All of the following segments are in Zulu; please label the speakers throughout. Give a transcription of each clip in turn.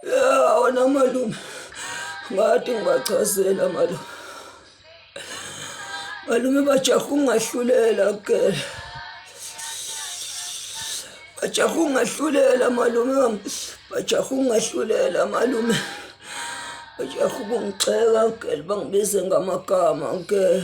Speaker 1: Ya wona malume ngathi ngibachazela malume malume bajaha ungahlulela kele bajaha ungahlulela malume wami bajaha ungahlulela malume bajaha ukungixeka kele bangibize ngamagama kele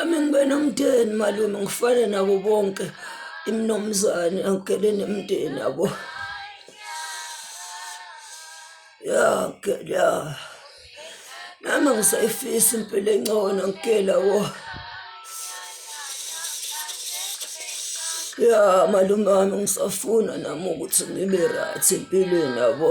Speaker 1: Ami ngibe nomndeni malume ngifane nabo bonke imnomzane angigele nemndeni yabo ya ngigele ya nami ngisayifisa impilo engcono ngigela wo ya malume wami ngisafuna nami ukuthi ngibe right empilweni yabo